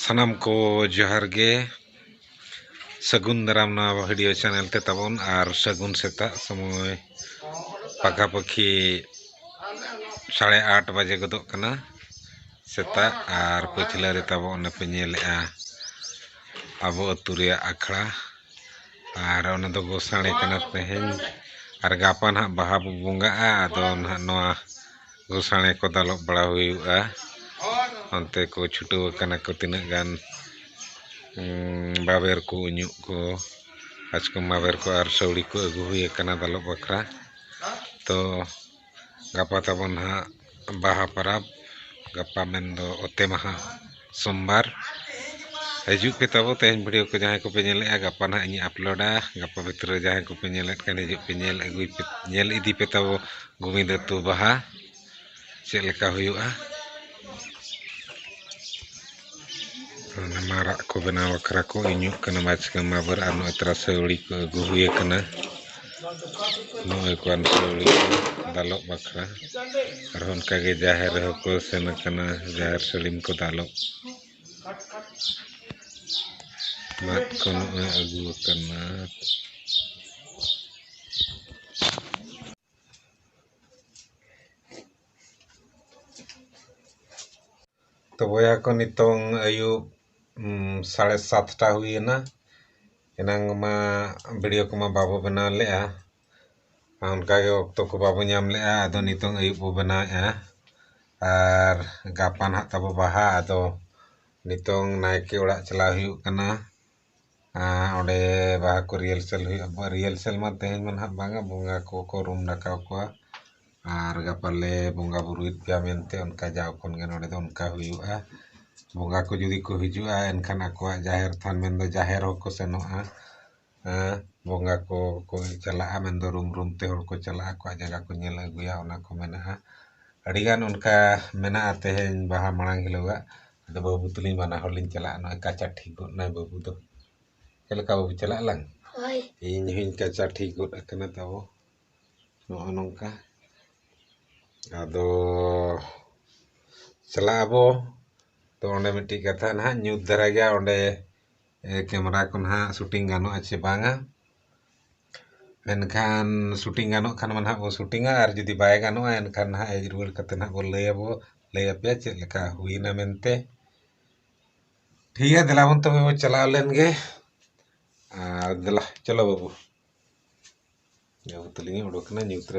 ᱥᱟᱱᱟᱢ ᱠᱚ ᱡᱚᱦᱟᱨ ᱜᱮ ᱥᱟᱹᱜᱩᱱ ᱫᱟᱨᱟᱢ ᱱᱚᱣᱟ ᱵᱷᱤᱰᱤᱭᱳ ᱪᱮᱱᱮᱞ ᱛᱮ ᱛᱟᱵᱚᱱ ᱟᱨ ᱥᱟᱹᱜᱩᱱ ᱥᱮᱛᱟᱜ ᱥᱚᱢᱚᱭ ᱯᱟᱠᱟᱯᱟᱹᱠᱷᱤ ᱥᱟᱲᱮ ᱟᱴ ᱵᱟᱡᱮ ᱜᱚᱫᱚᱜ ᱠᱟᱱᱟ ᱥᱮᱛᱟᱜ ᱟᱨ ᱯᱟᱹᱪᱷᱞᱟᱹ ᱨᱮ ᱛᱟᱵᱚ ᱚᱱᱮ ᱯᱮ ᱧᱮᱞᱮᱜᱼᱟ ᱟᱵᱚ ᱟᱹᱛᱩ ᱨᱮᱭᱟᱜ ᱟᱠᱷᱲᱟ ᱟᱨ ᱚᱱᱟ ᱫᱚ ᱜᱳᱥᱟᱲᱮ ᱠᱟᱱᱟ ᱛᱮᱦᱮᱧ ᱟᱨ ᱜᱟᱯᱟ ᱱᱟᱦᱟᱜ ᱵᱟᱦᱟ ᱵᱚ ᱵᱚᱸᱜᱟᱜᱼᱟ ᱟᱫᱚ ᱱᱟᱦᱟᱜ ᱱᱚᱣᱟ ᱜᱳᱥᱟᱲᱮ ᱠᱚ ᱫᱟᱞᱚᱵ ᱵᱟᱲᱟ ᱦᱩᱭᱩᱜᱼᱟ ᱚᱱᱛᱮ ᱠᱚ ᱪᱷᱩᱴᱟᱹᱣ ᱟᱠᱟᱱᱟ ᱠᱚ ᱛᱤᱱᱟᱹᱜ ᱜᱟᱱ ᱵᱟᱵᱮᱨ ᱠᱚ ᱩᱧᱩᱜ ᱠᱚ ᱵᱟᱪᱠᱚᱢ ᱵᱟᱵᱮᱨ ᱠᱚ ᱟᱨ ᱥᱟᱹᱣᱲᱤ ᱠᱚ ᱟᱹᱜᱩ ᱦᱩᱭ ᱟᱠᱟᱱᱟ ᱫᱟᱞᱚᱵ ᱵᱟᱠᱷᱨᱟ ᱛᱚ ᱜᱟᱯᱟ ᱛᱟᱵᱚᱱ ᱦᱟᱸᱜ ᱵᱟᱦᱟ ᱯᱚᱨᱚᱵᱽ ᱜᱟᱯᱟ ᱢᱮᱱᱫᱚ ᱚᱛᱮ ᱢᱟᱦᱟ ᱥᱳᱢᱵᱟᱨ ᱦᱤᱡᱩᱜ ᱯᱮ ᱛᱟᱵᱚ ᱛᱮᱦᱮᱧ ᱵᱷᱤᱰᱤᱭᱳ ᱠᱚ ᱡᱟᱦᱟᱸᱭ ᱠᱚᱯᱮ ᱧᱮᱞᱮᱜᱼᱟ ᱜᱟᱯᱟ ᱦᱟᱸᱜ ᱤᱧ ᱟᱯᱞᱳᱰᱟ ᱜᱟᱯᱟ ᱵᱷᱤᱛᱨᱤ ᱨᱮ ᱡᱟᱦᱟᱸᱭ ᱠᱚᱯᱮ ᱧᱮᱞᱮᱫ ᱠᱟᱱ ᱦᱤᱡᱩᱜ ᱯᱮ ᱧᱮᱞ ᱟᱹᱜᱩᱭ ᱯᱮ ᱧᱮᱞ ᱤᱫᱤ ᱯᱮ ᱛᱟᱵᱚ ᱜᱳᱵᱤᱱᱫ ᱟᱹᱛᱩ ᱵᱟᱦᱟ ᱪᱮᱫ ᱞᱮᱠᱟ ᱦᱩᱭᱩᱜᱼᱟ ᱚᱱᱟ ᱢᱟᱨᱟᱜ ᱠᱚ ᱵᱮᱱᱟᱣ ᱵᱟᱠᱷᱨᱟ ᱠᱚ ᱤᱧᱚᱜ ᱠᱟᱱᱟ ᱢᱟᱪᱠᱟ ᱢᱟᱵᱟᱨ ᱟᱨ ᱱᱚᱜᱼᱚᱭ ᱛᱨᱟᱥᱟᱹᱣᱲᱤ ᱠᱚ ᱟᱹᱜᱩ ᱦᱩᱭ ᱟᱠᱟᱱᱟ ᱱᱚᱜᱼᱚᱭ ᱠᱚ ᱟᱱᱥᱟᱹᱣᱲᱤ ᱠᱚ ᱫᱟᱞᱚᱵ ᱵᱟᱠᱷᱨᱟ ᱟᱨᱦᱚᱸ ᱚᱱᱠᱟ ᱜᱮ ᱡᱟᱦᱮᱨ ᱨᱮᱦᱚᱸ ᱠᱚ ᱥᱮᱱ ᱟᱠᱟᱱᱟ ᱡᱟᱦᱮᱨ ᱥᱟᱹᱲᱤᱢ ᱠᱚ ᱫᱟᱞᱚᱵ ᱢᱟᱫ ᱠᱚ ᱱᱚᱜᱼᱚᱭ ᱟᱹᱜᱩ ᱟᱠᱟᱱᱟ ᱛᱚ ᱵᱚᱭᱦᱟ ᱠᱚ ᱱᱤᱛᱚᱝ ᱟᱹᱭᱩᱵ ᱥᱟᱲᱮ ᱥᱟᱛᱴᱟ ᱦᱩᱭᱮᱱᱟ ᱮᱱᱟᱝ ᱢᱟ ᱵᱷᱤᱰᱤᱭᱳ ᱠᱚᱢᱟ ᱵᱟᱵᱚ ᱵᱮᱱᱟᱣ ᱞᱮᱫᱼᱟ ᱚᱱᱠᱟᱜᱮ ᱚᱠᱛᱚ ᱠᱚ ᱵᱟᱵᱚ ᱧᱟᱢ ᱞᱮᱫᱼᱟ ᱟᱫᱚ ᱱᱤᱛᱚᱝ ᱟᱹᱭᱩᱵ ᱵᱚ ᱵᱮᱱᱟᱣᱮᱫᱼᱟ ᱟᱨ ᱜᱟᱯᱟ ᱱᱟᱦᱟᱜ ᱛᱟᱵᱚ ᱵᱟᱦᱟ ᱟᱫᱚ ᱱᱤᱛᱚᱝ ᱱᱟᱭᱠᱮ ᱚᱲᱟᱜ ᱪᱟᱞᱟᱣ ᱦᱩᱭᱩᱜ ᱠᱟᱱᱟ ᱟᱨ ᱚᱸᱰᱮ ᱵᱟᱦᱟ ᱠᱚ ᱨᱤᱭᱮᱞᱥᱮᱞ ᱦᱩᱭᱩᱜᱼᱟ ᱨᱤᱭᱮᱞᱥᱮᱞ ᱢᱟ ᱛᱮᱦᱮᱧ ᱢᱟ ᱱᱟᱦᱟᱜ ᱵᱟᱝᱟ ᱵᱚᱸᱜᱟ ᱠᱚᱠᱚ ᱨᱩᱢ ᱰᱟᱠᱟᱣ ᱠᱚᱣᱟ ᱟᱨ ᱜᱟᱯᱟ ᱞᱮ ᱵᱚᱸᱜᱟ ᱵᱳᱨᱳᱭᱮᱫ ᱯᱮᱭᱟ ᱢᱮᱱᱛᱮ ᱚᱱᱠᱟ ᱡᱟᱣ ᱠᱷᱚᱱ ᱜᱮ ᱱᱚᱰᱮ ᱫᱚ ᱚᱱᱠᱟ ᱦᱩᱭᱩᱜᱼᱟ ᱵᱚᱸᱜᱟ ᱠᱚ ᱡᱩᱫᱤ ᱠᱚ ᱦᱤᱡᱩᱜᱼᱟ ᱮᱱᱠᱷᱟᱱ ᱟᱠᱚᱣᱟᱜ ᱡᱟᱦᱮᱨ ᱛᱷᱟᱱ ᱢᱮᱱᱫᱚ ᱡᱟᱦᱮᱨ ᱦᱚᱸᱠᱚ ᱥᱮᱱᱚᱜᱼᱟ ᱵᱚᱸᱜᱟ ᱠᱚ ᱠᱚ ᱪᱟᱞᱟᱜᱼᱟ ᱢᱮᱱᱫᱚ ᱨᱩᱢ ᱨᱩᱢ ᱛᱮ ᱦᱚᱲ ᱠᱚ ᱪᱟᱞᱟᱜᱼᱟ ᱟᱠᱚᱣᱟᱜ ᱡᱟᱭᱜᱟ ᱠᱚ ᱧᱮᱞ ᱟᱹᱜᱩᱭᱟ ᱚᱱᱟ ᱠᱚ ᱢᱮᱱᱟᱜᱼᱟ ᱟᱹᱰᱤᱜᱟᱱ ᱚᱱᱠᱟ ᱢᱮᱱᱟᱜᱼᱟ ᱛᱮᱦᱮᱧ ᱵᱟᱦᱟ ᱢᱟᱲᱟᱝ ᱦᱤᱞᱳᱜᱟᱜ ᱟᱫᱚ ᱵᱟᱹᱵᱩ ᱛᱟᱹᱞᱤᱧ ᱵᱟᱱᱟ ᱦᱚᱲ ᱞᱤᱧ ᱪᱟᱞᱟᱜᱼᱟ ᱱᱚᱜᱼᱚᱭ ᱠᱟᱪᱟ ᱴᱷᱤᱠ ᱜᱚᱫ ᱱᱟᱭ ᱵᱟᱹᱵᱩ ᱫᱚ ᱪᱮᱫ ᱞᱮᱠᱟ ᱵᱟᱹᱵᱩ ᱪᱟᱞᱟᱜ ᱟᱞᱟᱝ ᱦᱳᱭ ᱤᱧ ᱦᱚᱸᱧ ᱠᱟᱪᱟ ᱴᱷᱤᱠ ᱜᱚᱫ ᱟᱠᱟᱱᱟ ᱛᱟᱵᱚ ᱱᱚᱜᱼᱚ ᱱᱚᱝᱠᱟ ᱟᱫᱚ ᱪᱟᱞᱟᱜ ᱟᱵᱚ ᱛᱚ ᱚᱸᱰᱮ ᱢᱤᱫᱴᱤᱡ ᱠᱟᱛᱷᱟ ᱱᱟᱦᱟᱜ ᱧᱩᱛ ᱫᱷᱟᱨᱟ ᱜᱮᱭᱟ ᱚᱸᱰᱮ ᱠᱮᱢᱮᱨᱟ ᱠᱚ ᱱᱟᱦᱟᱜ ᱥᱩᱴᱤᱝ ᱜᱟᱱᱚᱜᱼᱟ ᱥᱮ ᱵᱟᱝᱟ ᱢᱮᱱᱠᱷᱟᱱ ᱥᱩᱴᱤᱝ ᱜᱟᱱᱚᱜ ᱠᱷᱟᱱ ᱢᱟ ᱱᱟᱜ ᱵᱚ ᱥᱩᱴᱤᱝᱟ ᱟᱨ ᱡᱩᱫᱤ ᱵᱟᱭ ᱜᱟᱱᱚᱜᱼᱟ ᱮᱱᱠᱷᱟᱱ ᱱᱟᱜ ᱦᱮᱡ ᱨᱩᱣᱟᱹᱲ ᱠᱟᱛᱮ ᱱᱟᱜ ᱵᱚ ᱞᱟᱹᱭ ᱟᱵᱚ ᱞᱟᱹᱭ ᱟᱯᱮᱭᱟ ᱪᱮᱫ ᱞᱮᱠᱟ ᱦᱩᱭᱮᱱᱟ ᱢᱮᱱᱛᱮ ᱴᱷᱤᱠ ᱜᱮᱭᱟ ᱫᱮᱞᱟ ᱵᱚᱱ ᱛᱚᱵᱮ ᱵᱚᱱ ᱪᱟᱞᱟᱣ ᱞᱮᱱ ᱜᱮ ᱟᱨ ᱫᱮᱞᱟ ᱪᱚᱞᱚ ᱵᱟᱹᱵᱩ ᱡᱟᱹᱵᱩ ᱛᱟᱹᱞᱤᱧ ᱩᱰᱩᱠ ᱮᱱᱟ ᱧᱩᱛ ᱨᱮ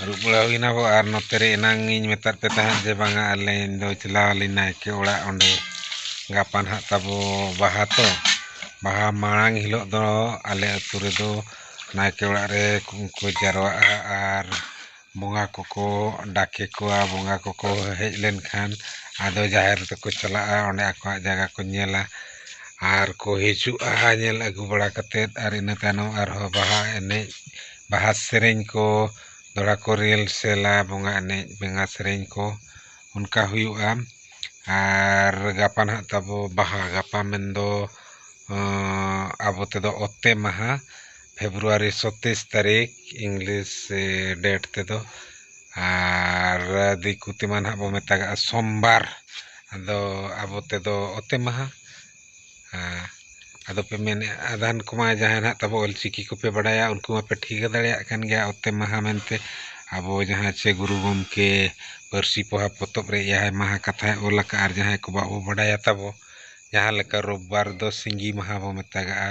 ᱟᱹᱨᱩᱵ ᱵᱟᱲᱟ ᱦᱩᱭᱱᱟ ᱜᱚ ᱟᱨ ᱱᱚᱛᱮ ᱨᱮ ᱮᱱᱟᱝ ᱤᱧ ᱢᱮᱛᱟᱫ ᱯᱮ ᱛᱟᱦᱮᱸᱫ ᱡᱮ ᱵᱟᱝᱟ ᱟᱞᱮ ᱤᱧ ᱫᱚ ᱪᱟᱞᱟᱣ ᱞᱤᱱᱟᱹᱧ ᱱᱟᱭᱠᱮ ᱚᱲᱟᱜ ᱚᱸᱰᱮ ᱜᱟᱯᱟ ᱦᱟᱸᱜ ᱛᱟᱵᱚ ᱵᱟᱦᱟ ᱛᱚ ᱵᱟᱦᱟ ᱢᱟᱲᱟᱝ ᱦᱤᱞᱳᱜ ᱫᱚ ᱟᱞᱮ ᱟᱛᱳ ᱨᱮᱫᱚ ᱱᱟᱭᱠᱮ ᱚᱲᱟᱜ ᱨᱮ ᱠᱚ ᱡᱟᱣᱨᱟᱜᱼᱟ ᱟᱨ ᱵᱚᱸᱜᱟ ᱠᱚᱠᱚ ᱰᱟᱠᱮ ᱠᱚᱣᱟ ᱵᱚᱸᱜᱟ ᱠᱚᱠᱚ ᱦᱮᱡ ᱞᱮᱱᱠᱷᱟᱱ ᱟᱫᱚ ᱡᱟᱦᱮᱨ ᱛᱮᱠᱚ ᱪᱟᱞᱟᱜᱼᱟ ᱚᱸᱰᱮ ᱟᱠᱚᱣᱟᱜ ᱡᱟᱭᱜᱟ ᱠᱚ ᱧᱮᱞᱟ ᱟᱨ ᱠᱚ ᱦᱤᱡᱩᱜᱼᱟ ᱧᱮᱞ ᱟᱹᱜᱩ ᱵᱟᱲᱟ ᱠᱟᱛᱮᱫ ᱟᱨ ᱤᱱᱟᱹ ᱛᱟᱭᱱᱚᱢ ᱟᱨᱦᱚᱸ ᱵᱟᱦᱟ ᱮᱱᱮᱡ ᱵᱟᱦᱟ ᱥᱮᱨᱮᱧ ᱠᱚ ᱫᱚᱦᱲᱟ ᱠᱚ ᱨᱤᱭᱮᱞ ᱥᱮᱞᱟ ᱵᱚᱸᱜᱟ ᱮᱱᱮᱡ ᱵᱮᱸᱜᱟ ᱥᱮᱨᱮᱧ ᱠᱚ ᱚᱱᱠᱟ ᱦᱩᱭᱩᱜᱼᱟ ᱟᱨ ᱜᱟᱯᱟ ᱱᱟᱦᱟᱜ ᱛᱟᱵᱚ ᱵᱟᱦᱟ ᱜᱟᱯᱟ ᱢᱮᱱ ᱫᱚ ᱟᱵᱚ ᱛᱮᱫᱚ ᱚᱛᱮ ᱢᱟᱦᱟ ᱯᱷᱮᱵᱽᱨᱩᱣᱟᱨᱤ ᱥᱚᱛᱮᱥ ᱛᱟᱹᱨᱤᱠᱷ ᱤᱝᱞᱤᱥ ᱰᱮᱴ ᱛᱮᱫᱚ ᱟᱨ ᱫᱤᱠᱩ ᱛᱮᱢᱟ ᱱᱟᱦᱟᱜ ᱵᱚᱱ ᱢᱮᱛᱟᱜᱟᱜᱼᱟ ᱥᱳᱢᱵᱟᱨ ᱟᱫᱚ ᱟᱵᱚ ᱛᱮᱫᱚ ᱚᱛᱮ ᱢᱟᱦᱟ ᱟᱫᱚ ᱯᱮ ᱢᱮᱱᱮᱫᱼᱟ ᱟᱫᱷᱟᱱ ᱠᱚᱢᱟ ᱡᱟᱦᱟᱸᱭ ᱱᱟᱜ ᱛᱟᱵᱚ ᱚᱞ ᱪᱤᱠᱤ ᱠᱚᱯᱮ ᱵᱟᱲᱟᱭᱟ ᱩᱱᱠᱩ ᱢᱟᱯᱮ ᱴᱷᱤᱠᱟᱹ ᱫᱟᱲᱮᱭᱟᱜ ᱠᱟᱱ ᱜᱮᱭᱟ ᱚᱛᱮ ᱢᱟᱦᱟ ᱢᱮᱱᱛᱮ ᱟᱵᱚ ᱡᱟᱦᱟᱸ ᱪᱮ ᱜᱩᱨᱩ ᱜᱚᱢᱠᱮ ᱯᱟᱹᱨᱥᱤ ᱯᱚᱦᱟ ᱯᱚᱛᱚᱵ ᱨᱮ ᱮᱭᱟᱭ ᱢᱟᱦᱟ ᱠᱟᱛᱷᱟᱭ ᱚᱞ ᱟᱠᱟᱫᱼᱟ ᱟᱨ ᱡᱟᱦᱟᱸᱭ ᱠᱚ ᱵᱟᱵᱚ ᱵᱟᱰᱟᱭᱟ ᱛᱟᱵᱚ ᱡᱟᱦᱟᱸ ᱞᱮᱠᱟ ᱨᱳᱵ ᱵᱟᱨ ᱫᱚ ᱥᱤᱸᱜᱤ ᱢᱟᱦᱟ ᱵᱚ ᱢᱮᱛᱟᱜᱟᱜᱼᱟ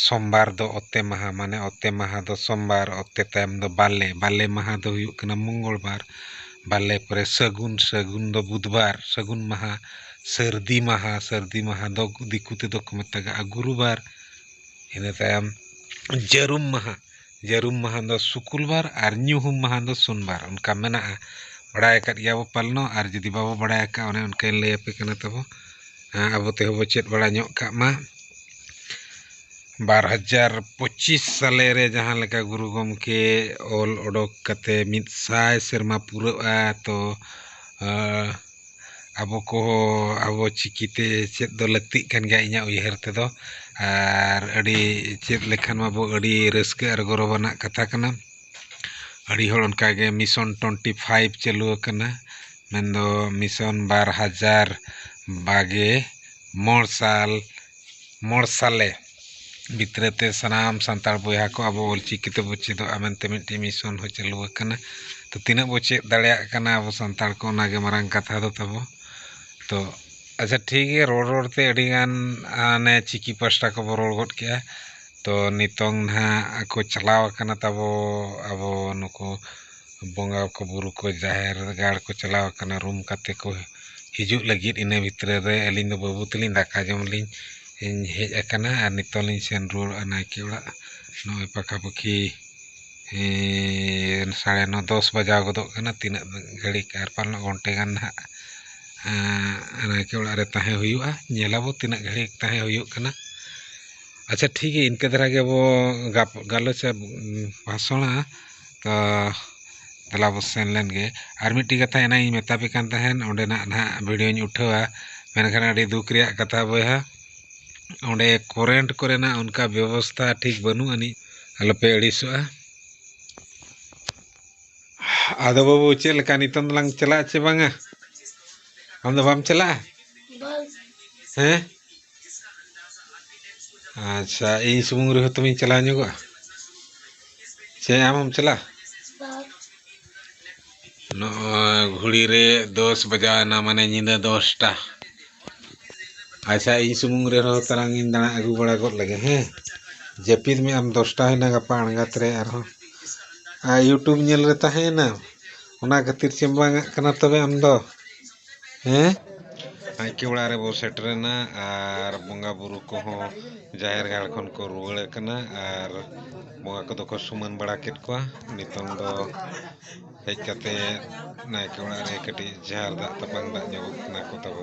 ᱥᱚᱢᱵᱟᱨ ᱫᱚ ᱚᱛᱮ ᱢᱟᱦᱟ ᱢᱟᱱᱮ ᱚᱛᱮ ᱢᱟᱦᱟ ᱫᱚ ᱥᱚᱢᱵᱟᱨ ᱚᱛᱮ ᱛᱟᱭᱚᱢ ᱫᱚ ᱵᱟᱞᱮ ᱵᱟᱞᱮ ᱢᱟᱦᱟ ᱫᱚ ᱦᱩᱭᱩᱜ ᱠᱟᱱᱟ ᱢᱚᱝᱜᱚᱞ ᱵᱟᱨ ᱵᱟᱞᱮ ᱯᱚᱨᱮ ᱥᱟᱹᱜᱩᱱ ᱥᱟᱹᱜᱩᱱ ᱫᱚ ᱵᱩᱫᱷᱵᱟᱨ ᱥᱟᱹᱜᱩᱱ ᱢᱟᱦᱟ ᱥᱟᱹᱨᱫᱤ ᱢᱟᱦᱟ ᱥᱟᱹᱨᱫᱤ ᱢᱟᱦᱟ ᱫᱚ ᱫᱤᱠᱩ ᱛᱮᱫᱚ ᱠᱚ ᱢᱮᱛᱟᱜᱟᱜᱼᱟ ᱜᱩᱨᱩᱵᱟᱨ ᱤᱱᱟᱹ ᱛᱟᱭᱚᱢ ᱡᱟᱹᱨᱩᱢ ᱢᱟᱦᱟ ᱡᱟᱹᱨᱩᱢ ᱢᱟᱦᱟ ᱫᱚ ᱥᱩᱠᱩᱞᱵᱟᱨ ᱟᱨ ᱧᱩᱦᱩᱢ ᱢᱟᱦᱟ ᱫᱚ ᱥᱩᱱᱵᱟᱨ ᱚᱱᱠᱟ ᱢᱮᱱᱟᱜᱼᱟ ᱵᱟᱲᱟᱭ ᱟᱠᱟᱫ ᱜᱮᱭᱟ ᱵᱚ ᱯᱟᱞᱮᱱ ᱟᱨ ᱡᱩᱫᱤ ᱵᱟᱵᱚ ᱵᱟᱲᱟᱭ ᱟᱠᱟᱫᱼᱟ ᱚᱱᱮ ᱚᱱᱠᱟᱧ ᱞᱟᱹᱭ ᱟᱯᱮ ᱠᱟᱱᱟ ᱛᱟᱵᱚ ᱟᱵᱚ ᱛᱮᱦᱚᱸ ᱵᱚ ᱪᱮᱫ ᱵᱟᱲᱟ ᱧᱚᱜ ᱠᱟᱜ ᱢᱟ ᱵᱟᱨ ᱦᱟᱡᱟᱨ ᱯᱚᱸᱪᱤᱥ ᱥᱟᱞᱮ ᱨᱮ ᱡᱟᱦᱟᱸ ᱞᱮᱠᱟ ᱜᱩᱨᱩ ᱜᱚᱢᱠᱮ ᱚᱞ ᱚᱰᱚᱠ ᱠᱟᱛᱮᱫ ᱢᱤᱫ ᱥᱟᱭ ᱥᱮᱨᱢᱟ ᱯᱩᱨᱟᱹᱜᱼᱟ ᱛᱚ ᱟᱵᱚ ᱠᱚᱦᱚᱸ ᱟᱵᱚ ᱪᱤᱠᱤ ᱛᱮ ᱪᱮᱫ ᱫᱚ ᱞᱟᱹᱠᱛᱤᱜ ᱠᱟᱱ ᱜᱮᱭᱟ ᱤᱧᱟᱹᱜ ᱩᱭᱦᱟᱹᱨ ᱛᱮᱫᱚ ᱟᱨ ᱟᱹᱰᱤ ᱪᱮᱫ ᱞᱮᱠᱷᱟᱱ ᱢᱟᱵᱚ ᱟᱹᱰᱤ ᱨᱟᱹᱥᱠᱟᱹ ᱟᱨ ᱜᱚᱨᱚᱵᱽ ᱟᱱᱟᱜ ᱠᱟᱛᱷᱟ ᱠᱟᱱᱟ ᱟᱹᱰᱤ ᱦᱚᱲ ᱚᱱᱠᱟ ᱜᱮ ᱢᱤᱥᱚᱱ ᱴᱩᱭᱮᱱᱴᱤ ᱯᱷᱟᱭᱤᱵᱷ ᱪᱟᱹᱞᱩ ᱟᱠᱟᱱᱟ ᱢᱮᱱᱫᱚ ᱢᱤᱥᱚᱱ ᱵᱟᱨ ᱦᱟᱡᱟᱨ ᱵᱟᱜᱮ ᱢᱚᱬ ᱥᱟᱞ ᱢᱚᱬ ᱥᱟᱞᱮ ᱵᱷᱤᱛᱨᱟᱹ ᱛᱮ ᱥᱟᱱᱟᱢ ᱥᱟᱱᱛᱟᱲ ᱵᱚᱭᱦᱟ ᱠᱚ ᱟᱵᱚ ᱚᱞ ᱪᱤᱠᱤ ᱛᱮᱵᱚ ᱪᱮᱫᱚᱜᱼᱟ ᱢᱮᱱᱛᱮ ᱢᱤᱫᱴᱤᱡ ᱢᱤᱥᱚᱱ ᱦᱚᱸ ᱪᱟᱹᱞᱩ ᱟᱠᱟᱱᱟ ᱛᱚ ᱛᱤᱱᱟᱹᱜ ᱵᱚ ᱪᱮᱫ ᱫᱟᱲᱮᱭᱟᱜ ᱠᱟᱱᱟ ᱟᱵᱚ ᱥᱟᱱᱛᱟᱲ ᱠᱚ ᱚᱱᱟ ᱜᱮ ᱢᱟᱨᱟᱝ ᱠᱟᱛᱷᱟ ᱫᱚ ᱛᱟᱵᱚ ᱛᱚ ᱟᱪᱪᱷᱟ ᱴᱷᱤᱠ ᱜᱮᱭᱟ ᱨᱚᱲ ᱨᱚᱲ ᱛᱮ ᱟᱹᱰᱤ ᱜᱟᱱ ᱦᱟᱱᱮ ᱪᱤᱠᱤ ᱯᱟᱥᱴᱟ ᱠᱚᱵᱚ ᱨᱚᱲ ᱜᱚᱫ ᱠᱮᱜᱼᱟ ᱛᱚ ᱱᱤᱛᱚᱝ ᱱᱟᱦᱟᱜ ᱠᱚ ᱪᱟᱞᱟᱣ ᱠᱟᱱᱟ ᱛᱟᱵᱚ ᱟᱵᱚ ᱱᱩᱠᱩ ᱵᱚᱸᱜᱟ ᱠᱚ ᱵᱩᱨᱩ ᱠᱚ ᱡᱟᱦᱮᱨ ᱜᱟᱲ ᱠᱚ ᱪᱟᱞᱟᱣ ᱠᱟᱱᱟ ᱨᱩᱢ ᱠᱟᱛᱮ ᱠᱚ ᱦᱤᱡᱩᱜ ᱞᱟᱹᱜᱤᱫ ᱤᱱᱟᱹ ᱵᱷᱤᱛᱨᱤ ᱨᱮ ᱟᱹᱞᱤᱧ ᱫᱚ ᱵᱟᱹᱵᱩ ᱛᱟᱹᱞᱤᱧ ᱫᱟᱠᱟ ᱡᱚᱢ ᱞᱤᱧ ᱦᱮᱡ ᱟᱠᱟᱱᱟ ᱟᱨ ᱱᱤᱛᱚᱜ ᱞᱤᱧ ᱥᱮᱱ ᱨᱩᱣᱟᱹᱲᱚᱜᱼᱟ ᱱᱟᱭᱠᱮ ᱚᱲᱟᱜ ᱱᱚᱜᱼᱚᱭ ᱯᱟᱠᱷᱟ ᱯᱟᱹᱠᱷᱤ ᱥᱟᱲᱮ ᱱᱚ ᱫᱚᱥ ᱵᱟᱡᱟᱣ ᱜᱚᱫᱚᱜ ᱠᱟᱱᱟ ᱛᱤᱱᱟᱹᱜ ᱜᱷᱟᱹᱲᱤᱡ ᱟᱨ ᱯᱟᱞᱮᱱ ᱜᱷᱚᱱᱴᱮ ᱜᱟᱱ ᱱᱟᱦᱟᱜ ᱱᱟᱭᱠᱮ ᱚᱲᱟᱜ ᱨᱮ ᱛᱟᱦᱮᱸ ᱦᱩᱭᱩᱜᱼᱟ ᱧᱮᱞ ᱟᱵᱚ ᱛᱤᱱᱟᱹᱜ ᱜᱷᱟᱹᱲᱤᱡ ᱛᱟᱦᱮᱸ ᱦᱩᱭᱩᱜ ᱠᱟᱱᱟ ᱟᱪᱪᱷᱟ ᱴᱷᱤᱠ ᱜᱮᱭᱟ ᱤᱱᱠᱟᱹ ᱫᱷᱟᱨᱟ ᱜᱮᱵᱚ ᱜᱟᱞᱚᱪᱟ ᱵᱷᱟᱥᱚᱱᱟ ᱛᱚ ᱫᱮᱞᱟ ᱵᱚ ᱥᱮᱱ ᱞᱮᱱ ᱜᱮ ᱟᱨ ᱢᱤᱫᱴᱤᱡ ᱠᱟᱛᱷᱟ ᱮᱱᱟᱝ ᱤᱧ ᱢᱮᱛᱟ ᱯᱮ ᱠᱟᱱ ᱛᱟᱦᱮᱸᱫ ᱚᱸᱰᱮᱱᱟᱜ ᱱᱟᱦᱟᱜ ᱵᱷᱤᱰᱤᱭᱳᱧ ᱩᱴᱷᱟᱹᱣᱟ ᱢᱮᱱᱠᱷᱟᱱ ᱟᱹᱰᱤ ᱫᱩᱠ ᱨᱮᱭᱟᱜ ᱠᱟᱛᱷᱟ ᱵᱚᱭᱦᱟ ᱚᱸᱰᱮ ᱠᱚᱨᱮᱱᱴ ᱠᱚᱨᱮᱱᱟᱜ ᱚᱱᱠᱟ ᱵᱮᱵᱚᱥᱛᱷᱟ ᱴᱷᱤᱠ ᱵᱟᱹᱱᱩᱜ ᱟᱹᱱᱤᱡ ᱟᱞᱚᱯᱮ ᱟᱹᱲᱤᱥᱚᱜᱼᱟ ᱟᱫᱚ ᱵᱟᱹᱵᱩ ᱪᱮᱫ ᱞᱮᱠᱟ ᱱᱤᱛᱚᱝ ᱫᱚᱞᱟᱝ ᱪᱟᱞᱟᱜᱼᱟ ᱪᱮ ᱵᱟᱝᱟ ᱟᱢ ᱫᱚ ᱵᱟᱢ ᱪᱟᱞᱟᱜᱼᱟ ᱦᱮᱸ ᱟᱪᱪᱷᱟ ᱤᱧ ᱥᱩᱢᱩᱝ ᱨᱮᱦᱚᱸ ᱛᱚᱵᱮᱧ ᱪᱟᱞᱟᱣ ᱧᱚᱜᱚᱜᱼᱟ ᱥᱮ ᱟᱢ ᱦᱚᱢ ᱪᱟᱞᱟᱜᱼᱟ ᱱᱚᱜᱼᱚᱭ ᱜᱷᱩᱲᱤ ᱨᱮ ᱫᱚᱥ ᱵᱟᱡᱟᱣ ᱮᱱᱟ ᱢᱟᱱᱮ ᱧᱤᱫᱟᱹ ᱫᱚᱥᱴᱟ ᱟᱪᱪᱷᱟ ᱤᱧ ᱥᱩᱢᱩᱝ ᱨᱮᱦᱚᱸ ᱛᱟᱞᱟᱝ ᱤᱧ ᱫᱟᱬᱟ ᱟᱹᱜᱩ ᱵᱟᱲᱟ ᱜᱚᱫ ᱞᱮᱜᱮ ᱦᱮᱸ ᱡᱟᱹᱯᱤᱫ ᱢᱮ ᱟᱢ ᱫᱚᱥᱴᱟ ᱦᱩᱭᱱᱟ ᱜᱟᱯᱟ ᱟᱬᱜᱟᱛ ᱨᱮ ᱟᱨᱦᱚᱸ ᱟᱨ ᱤᱭᱩᱴᱩᱵᱽ ᱧᱮᱞ ᱨᱮ ᱛᱟᱦᱮᱸᱭᱮᱱᱟᱢ ᱚᱱᱟ ᱠᱷᱟᱹᱛᱤᱨ ᱪᱮᱢᱵᱟᱝᱟᱜ ᱠᱟᱱᱟ ᱛᱚᱵᱮ ᱟᱢ ᱫᱚ ᱦᱮᱸ ᱱᱟᱭᱠᱮ ᱚᱲᱟᱜ ᱨᱮᱵᱚ ᱥᱮᱴᱮᱨᱮᱱᱟ ᱟᱨ ᱵᱚᱸᱜᱟ ᱵᱩᱨᱩ ᱠᱚᱦᱚᱸ ᱡᱟᱦᱮᱨ ᱜᱟᱲ ᱠᱷᱚᱱ ᱠᱚ ᱨᱩᱣᱟᱹᱲᱮᱫ ᱠᱟᱱᱟ ᱟᱨ ᱵᱚᱸᱜᱟ ᱠᱚᱫᱚ ᱠᱚ ᱥᱩᱢᱟᱹᱱ ᱵᱟᱲᱟ ᱠᱮᱫ ᱠᱚᱣᱟ ᱱᱤᱛᱚᱝ ᱫᱚ ᱦᱮᱡ ᱠᱟᱛᱮ ᱱᱟᱭᱠᱮ ᱚᱲᱟᱜ ᱨᱮ ᱠᱟᱹᱴᱤᱡ ᱡᱷᱟᱨ ᱫᱟᱜ ᱛᱟᱯᱟᱝ ᱫᱟᱜ ᱧᱚᱜᱚᱜ ᱠᱟᱱᱟ ᱠᱚ ᱛᱟᱵᱚ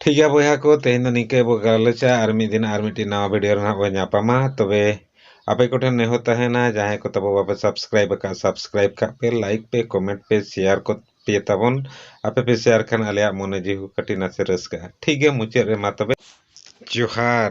ᱴᱷᱤᱠ ᱜᱮᱭᱟ ᱵᱚᱭᱦᱟ ᱠᱚ ᱛᱮᱦᱮᱧ ᱫᱚ ᱱᱤᱝᱠᱟᱹ ᱵᱚ ᱜᱟᱞᱚᱪᱟ ᱟᱨ ᱢᱤᱫ ᱫᱤᱱ ᱟᱨ ᱢᱤᱫᱴᱤᱡ ᱱᱟᱣᱟ ᱵᱷᱤᱰᱤᱭᱳ ᱨᱮ ᱱᱟᱦᱟᱜ ᱵᱚ ᱧᱟᱯᱟᱢᱟ ᱛᱚᱵᱮ ᱟᱯᱮ ᱠᱚᱴᱷᱮᱱ ᱱᱮᱦᱚᱨ ᱛᱟᱦᱮᱱᱟ ᱡᱟᱦᱟᱸᱭ ᱠᱚ ᱛᱟᱵᱚ ᱵᱟᱯᱮ ᱥᱟᱵᱥᱠᱨᱟᱭᱤᱵ ᱟᱠᱟᱫ ᱥᱟᱵᱥᱠᱨᱟᱭᱤᱵ ᱠᱟᱜ ᱯᱮ ᱞᱟᱭᱤᱠ ᱯᱮ ᱠᱚᱢᱮᱱᱴ ᱯᱮ ᱥᱮᱭᱟᱨ ᱠᱚ ᱯᱮ ᱛᱟᱵᱚᱱ ᱟᱯᱮ ᱯᱮ ᱥᱮᱭᱟᱨ ᱠᱷᱟᱱ ᱟᱞᱮᱭᱟᱜ ᱢᱚᱱᱮ ᱡᱤᱣᱤ ᱦᱚᱸ ᱠᱟᱹᱴᱤᱡ ᱱᱟᱥᱮ ᱨᱟᱹᱥᱠᱟᱹᱜᱼᱟ ᱴᱷᱤᱠ ᱜᱮᱭᱟ ᱢᱩᱪᱟᱹᱫ ᱨᱮ ᱢᱟ ᱛᱚᱵᱮ ᱡᱚᱦᱟᱨ